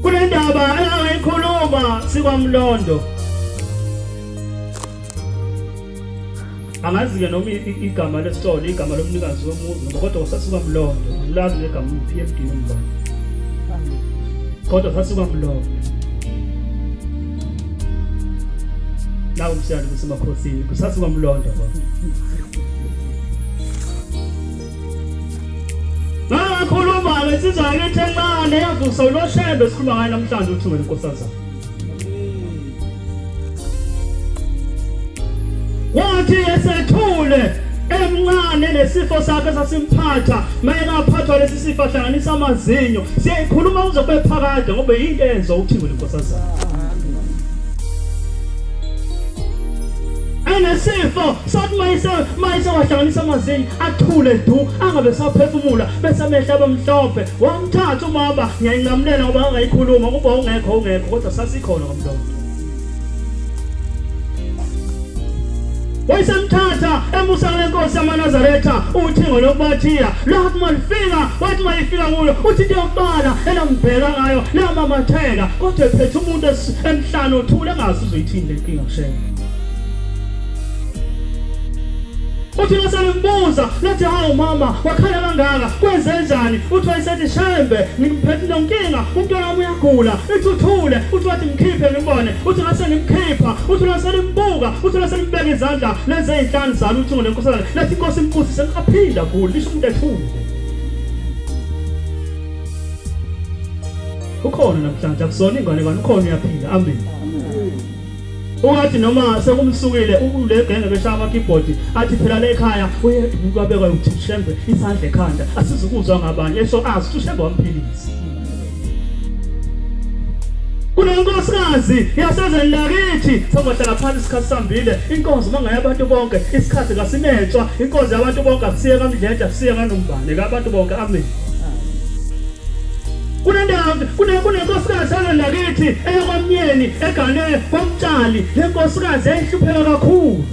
Kunendaba ayikhuluma sikwamlondo angazi-ke noma igama lesitolo igama lomnikazi womuzi ngoba kodwa usasuka mlondo ngilwazi negama p m d umba kodwa sasuka mlondo nawo msiyalo kusemakhosini kusasuka mlondo kodwa Nangakhuluma lesizwa ngithi encane yavusa uloshembe sikhuluma ngaye namhlanje uthi wena nkosazana. Wathi esethule emncane nesifo sakhe sasimphatha mayengaphathwa lesi sifo ahlanganisa amazinyo siyayikhuluma kuze kube phakade ngoba yinto enzo uthingwe lenkosazana enesifo sathi mayise mayise wahlanganisa amazinyo athule du angabe saphefumula bese amehla abamhlophe wamthatha umama ngiyayinqamulela ngoba angayikhuluma kuba ungekho ungekho kodwa sasikhona ngomlomo wayisemthatha emusa kule nkosi yamanazaretha uthingo lokubathiya lathi malifika wathi mayifika kuyo uthi into yokubala elambheka ngayo lamamatheka kodwa ephethe umuntu emhlane uthule engazi uzoyithini le nkinga shela uthi ngasengimbuza lothi hawu mama wakhala kangaka kwenzenjani uthi wayesethi shembe ngimphethe nonkinga umntwana wami uyagula ithi uthule uthi wathi mkhiphe ngimbone uthi ngase ngimkhipha uthi laselimbuka uthi laselibeka izandla lenze izinhlanu zalo uthi ngolenkosazana lathi inkosi impusise aphinda guli lisho umuntu ethule ukhona namhlanje akusona ingane ngani ukhona uyaphila amen ungathi noma sekumsukile ulegenge beshaya amakibhodi athi phela le ekhaya uyedwa umuntu wabekwa ukuthi ushembe isandla ekhanda asizukuzwa ngabanye esho azi ukuthi ushembe wamphilisa kunenkosikazi yasezweni lakithi sobahlala phansi isikhathi sambile inkonzo mangaya abantu bonke isikhathi kasinetswa inkonzo yabantu bonke akusiye kamdledla kusiye kanombane kabantu bonke amen kunendawo kunenkosikazi engandakithi eyokwamnyeni egane kwamtshali le nkosikazi yayihlupheka kakhulu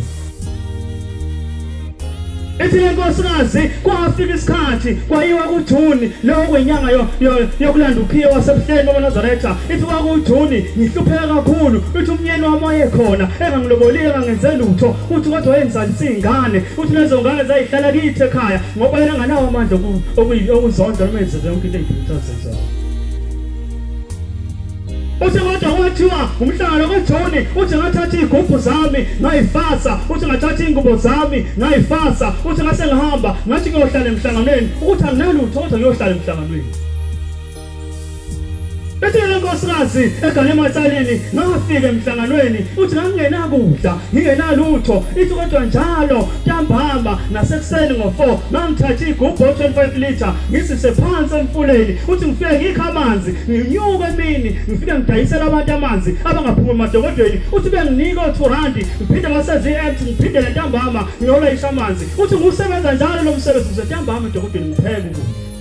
ethi le nkosikazi kwafika isikhathi kwayiwa kujuni lowo kwenyanga yokulanda ukhiye wasebuhleni wamaNazaretha ithi kwakujuni ngihlupheka kakhulu ithi umnyeni wami wayekhona engangilobolile engangenze lutho uthi kodwa wayengizalisa iy'ngane uthi lezo ngane zayihlala kithi ekhaya Ngoba yena nganawo amandla okuzondwa noma yenze yonke into eyiphethe azenzayo. Uthi kodwa kwathiwa umhlangano kaJoni uthi ngathatha iy'gubhu zami ngayifasa uthi ngathatha iy'ngubo zami ngayifasa uthi ngase ngihamba ngathi ngiyohlala emhlanganweni ukuthi anginalutho kodwa ngiyohlala emhlanganweni Bethe le nkosikazi egane ematshaleni ngafika emhlanganweni uthi ngangingenakudla ngingenalutho ithi kodwa njalo ntambama nasekuseni ngo-4 ngangithatha igubhu o-25 litre ngisise phansi emfuleni uthi ngifike ngikho amanzi nginyuke emini ngifike ngidayisela abantu amanzi abangaphumi emadokodweni uthi benginika o-two randi ngiphinde baseziyi-act ngiphinde le ntambama ngiyolayisha amanzi uthi ngusebenza njalo lo msebenzi ngisentambama edokodweni ngipheke ukudla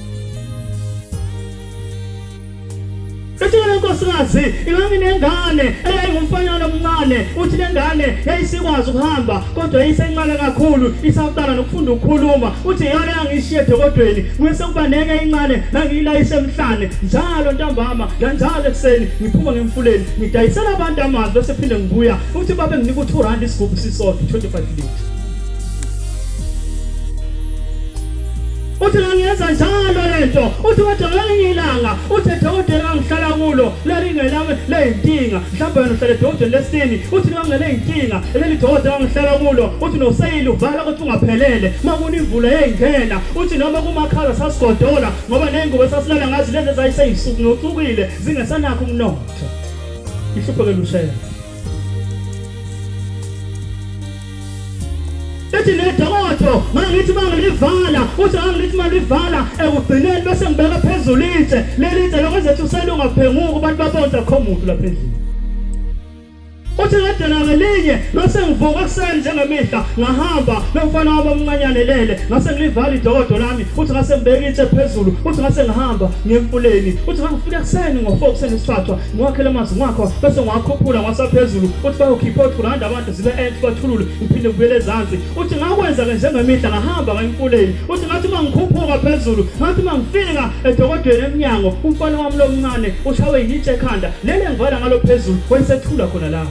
Ethula inkosikazi inganginengane eyayingumfanyana omncane uthi le ngane yayisikwazi ukuhamba kodwa yayisencane kakhulu isaqala nokufunda ukukhuluma uthi iyona yangishiye edokodweni kwese kuba nenye incane nangiyilayise emhlane njalo ntambama nanjalo ekuseni ngiphuma ngemfuleni ngidayisela abantu amanzi bese phinde ngibuya uthi babe nginika u2 rand isigubhu sisodwa 25 liters uthi ngangenza njalo le nto uthi kodwa ngelinye ilanga uthi edokotela engangihlala kulo lalingelami leyinkinga mhlawumbe wena uhlale edokotela lesini uthi liwangeleyinkinga leli dokotela engangihlala kulo uthi noseyili uvala ukuthi ungaphelele uma kunimvula yeyingena uthi noma kumakhala sasigodola ngoba neyingubo esasilala ngazi lezi ezayiseyisuku notsukile zingesanakho umnotho ihluphekela ushela ethi nedokodo mangithi mangilivala uthi angithi malivala ekugcineni bese ngibeka phezulu itshe leli itshe lokho ezethu selungaphenguka abantu babonza kho muntu lapha endlini uthi ngadana ngelinye bese ngivuka ekuseni njengemihla ngahamba nomfana wabo omncanyane lele ngase ngilivala idokodo lami uthi ngase ngibeka itshe phezulu uthi ngase ngihamba ngemfuleni uthi ngangifika ekuseni ngo-four kuseni isithathwa ngiwakhele amanzi ngakho bese ngiwakhuphula ngwasaphezulu uthi bayokhipha othi kuranda abantu zibe enhle bathulule ngiphinde ngibuyele ezansi uthi ngakwenza ke njengemihla ngahamba kayimfuleni uthi ngathi uma ngikhuphuka phezulu ngathi uma ngifika edokodweni emnyango umfana wami lomncane ushawe yitshe ekhanda lele ngivala ngalo phezulu wayesethula khona la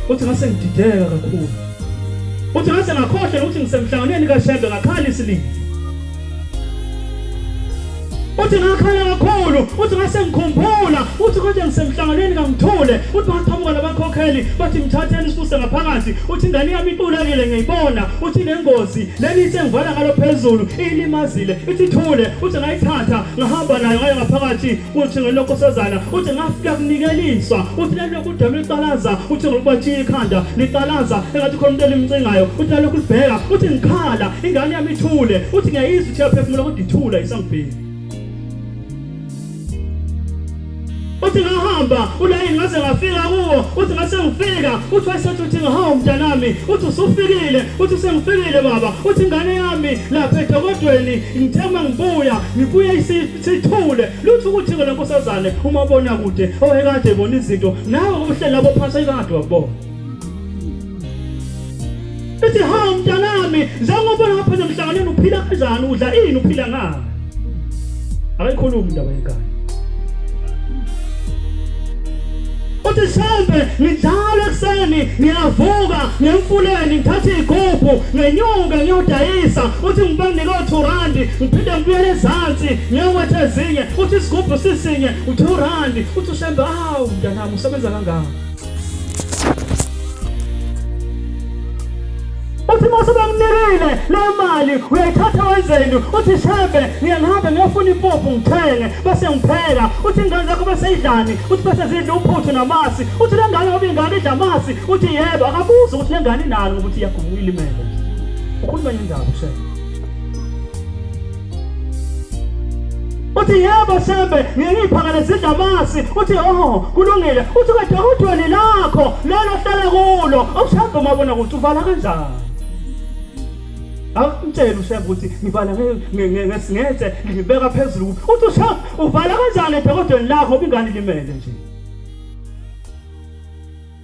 uthi ngase ngidideka kakhulu uthi ngase ngakhohlwa ukuthi ngisemhlanganweni kaShembe ngakhala isilili uthi ngakhala kakhulu uthi ngase ngikhumbula uthi konje ngisemhlanganweni kamthule uthi baqhamuka labakhokheli bathi mthatheni isuse ngaphakathi uthi ingane yami itulekile ngiyibona uthi nengozi leli ithe ngivala ngalo phezulu ilimazile ithi thule uthi ngayithatha ngahamba nayo ngayo ngaphakathi uthi ngelokhu usezala uthi ngafika kunikeliswa uthi lalokhu udama liqalaza uthi ngokubatshiya ikhanda liqalaza engathi khona umuntu elimcingayo uthi lalokhu libheka uthi ngikhala ingane yami ithule uthi ngiyayizwa uthi yaphefumula kodwa ithula isangibheki uthi ngahamba ulayini ngaze ngafika kuwo uthi ngase ngifika uthi wayesethi uthi ngahawu mntanami uthi usufikile uthi usengifikile baba uthi ingane yami lapha edokodweni ngithema ngibuya ngibuye isifi sithule lutho ukuthi ke lenkosazane uma bona kude owekade ebona izinto nawe ubuhleli labo phansi ekade wakubona Ethi ha mntanami njengoba lapha nemhlanganweni uphila kanjani udla ini uphila ngani Akayikhulumi indaba yenkani uthi shembe ngidlala ekuseni ngiyavuka ngemfuleni ngithathe igubhu ngenyuke ngiyodayisa uthi ngibe ngiko-two randi ngiphinde ngibuyele ezansi ngiyowetha ezinye uthi isigubhu sisinye u-two randi uthi ushembe awu mntanami usebenza kangaka uthi uma sebamnikile leyo mali uyayithatha wenzeni uthi shebe ngiyangihamba ngiyofuna impuphu ngithenge bese ngipheka uthi ingane zakho bese idlani uthi bese zidla uphuthu namasi uthi le ngane ngoba ingane idla amasi uthi yebo akabuzi ukuthi le ngane inani ngoba uthi iyagubuka ilimele ukhuluma indaba shebe uthi yebo sembe ngiyiphakane sidla amasi uthi oho kulungile uthi kade udwele lakho lelo hlala kulo awushamba umabona ukuthi uvala kanjani awumtshela ushembe ukuthi ngibala ngesingetse ngibeka phezulu uthi ushembe uvala kanjani edokodweni lakho ubingani limele nje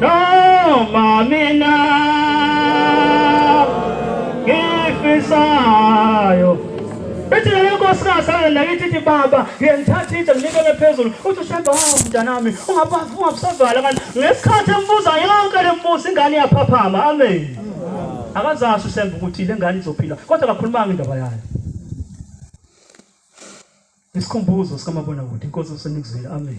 noma mina ngifisayo ethi leyo nkosikazi alendakithi ithi baba ngiyengithatha itshe nginikele phezulu uthi usheba hawu mntanami ungabusavala kanti ngesikhathi embuza yonke le mbuzo ingane iyaphaphama amen akazasho usembe ukuthi le ngane izophila kodwa kakhulumanga indaba yayo isikhumbuzo sikamabonakude inkosi usenikuzwile amen